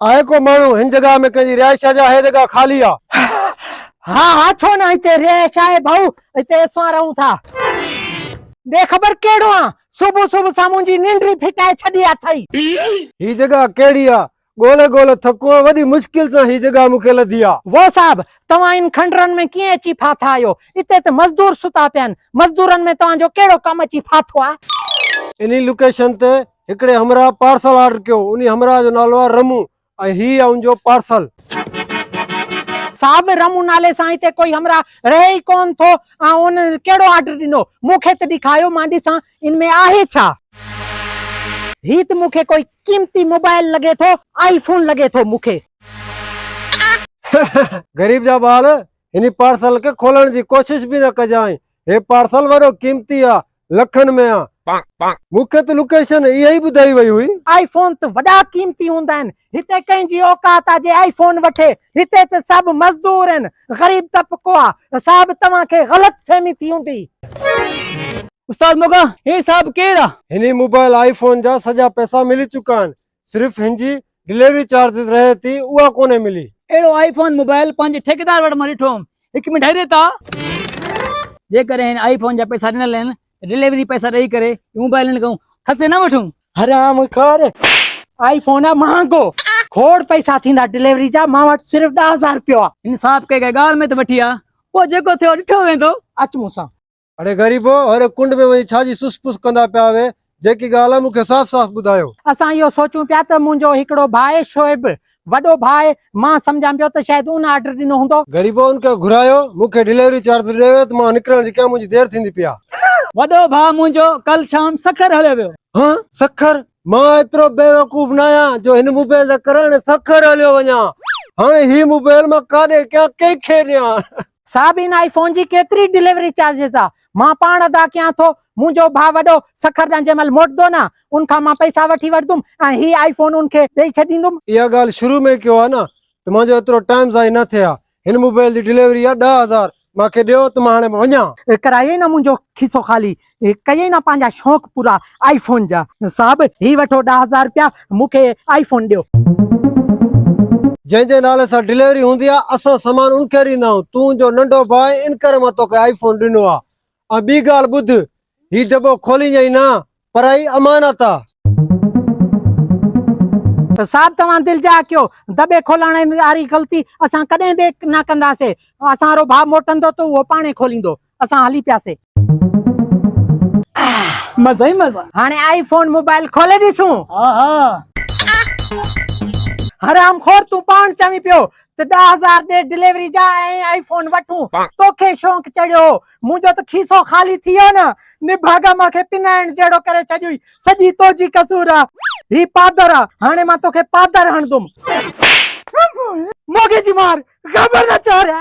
آهي ڪو ماڻهو هن جڳهه ۾ ڪنهن جي رهائش آ جا هيء جڳهه خالي آ؟ ها ها ڇو نه هتي رهائش آهي ڀائو هتي اسان رهون ٿا. بي خبر ڪهڙو آن صبح صبح سان منهنجي ننڊ ئي ڦٽائي ڇڏي اٿئي. هي جڳهه ڪهڙي آ ڳولهي ڳولهي ٿڪو آهيان، وڏي مشڪل سان هي جڳهه مون کي لڌي آ. واء صاحب! توهان ان کنڊرن ۾ ڪيئن اچي ڦاٿا آهيو؟ اتي ته مزدور ستا پيا آهن. مزدورن ۾ توهان جو ڪهڙو ڪم اچي ڦاٿو آ؟ انهي لوڪيشن تي هڪڙي همراهه پارسل آرڊر ڪيو. انهي همراهه جو نالو آ رمو ۽ هي آ ان جو پارسل. صاحب! رمو نالي سان هتي ڪوئي همراهه رهي ئي ڪونه ٿو. آئون ان ڪهڙو آرڊر ڏنو؟ مون کي ته ڏيکاريو مان ڏسان. ان ۾ آهي ڇا؟ هي ته مون کي ڪوئي قيمتي موبائل لڳي ٿو. آئي فون لڳي ٿو مون کي. غريب جا ٻال، هن پارسل کي کولڻ جي ڪوشش به نه ڪجانء. هي پارسل وڏو قيمتي آ. لکن ۾ آ. مون کي ته لوڪيشن اها ئي ٻڌائي وئي هئي. آئي فون ته وڏا قيمتي هوندا آهن. هتي ڪنهن جي اوقات آ جي آئي فون وٺي هتي ته سڀ مزدور ان غريب طبقو آ صاحب توهان کي غلط فهمي ٿي هوندي. استاد موڳا هي صاحب ڪير آ. هني موبائل آئي فون جا سڄا پئسا ملي چڪا آهن صرف هن جي ڊليوري چارجز رهي ٿي اها ڪونهي ملي. اهڙو آئي فون موبائل پنهنجي ٺيڪيدار وٽ مان ڏٺو هوم هڪ منٽ هيري ٿا. جيڪڏهن هن آئي فون جا پئسا ڏنل آهن ڊليوري پئسا ڏئي ڪري موبائل نه ڪون کسي نه وٺون حرام خور آئي فون آ مهانگو کوڙ پئسا ٿيندا ڊليوري جا مان وٽ صرف 10000 روپيو آ انصاف ڪي ڪي گال ۾ ته وٺي آ پو جيڪو ٿيو ڏٺو ويندو اچ مون سان اڙي غريبو اڙي ڪنڊ ۾ وڃي ڇا جي سس پس ڪندا پيا آهي جيڪي گال آ مون کي صاف صاف ٻڌايو اسان اهو سوچون پيا ته منهنجو هڪڙو ڀاء شعيب وڏو ڀاء، مان سمجهان پيو ته شايد ان آرڊر ڏنو هوندو. غريبو ان کان گهرايو، مون کي ڊليوري چارجز ڏيو ته مان نڪرڻ جي ڪيان منهنجي دير ٿيندي پئي آ. وڏو ڀاء منهنجو ڪل شام سکر هليو ويو. ها سکر؟ مان ايترو بيوقوف ناهيان جو هن موبائل جا ڪرڻ ۽ سکر هليو وڃان. هاڻي هي موبائل مان ڪاڏي ڪيان ڪنهن کي ڏيان. صاحب ان آئي فون جي ڪيتري ڊليوري چارجز آ؟ مان پاڻ ادا ڪيان ٿو، منهنجو ڀاء وڏو سکر ڏانهن جنهن مهل موٽندو نه، ان کان مان پئسا وٺي وٺندم ۽ هي آئي فون ان کي ڏئي ڇڏيندم. اها ڳالهه شروع ۾ ڪيو ها نه ته منهنجو ايترو ٽائيم ضائع نه ٿئي ها. هن موبائل جي ڊليوري جا ڏهه هزار مان کي ڏيو ته مان هاڻي وڃان. ڪرايئي نه منهنجو کيسو خالي، ڪيئي نه پنهنجا شوق پورا آئي فون جا. صاحب هي وٺو ڏهه هزار رپيا، مون کي آئي فون ڏيو. جنهن جي نالي سان ڊليوري هوندي آ اسان سامان ان کي ڏيندا آهيون تون جو ننڍو ڀاء آهين ان ڪري مان توکي آئي فون ڏنو آ ۽ ٻي ڳالهه ٻڌ هي ڊٻو کولينجئين نه پر هي امانت آ. صاحب توهان دل جاء ڪيو دٻي کولڻ واري غلطي اسان ڪڏهن به نه ڪنداسين اسان وارو ڀاء موٽندو ته اهو پاڻهي کوليندو. اسان هلي پياسي. مزا ئي مزا. هاڻي آئي فون موبائل کولي ڏسون. ها ها. حرام خور تون پاڻ چوين پيو ته ڏهه هزار ڏي ڊليوري جا ۽ آئي فون وٺون توکي شونق چڙهيو هو منهنجو ته کيسو خالي ٿي ويو نه نڀاڳا مان کي پنائڻ جهڙو ڪري ڇڏيوئي سڄي توجي قصور آ هي پادر آ هاڻي مان توکي پادر هڻدم موڳي جي مار. غبر نه چاريا.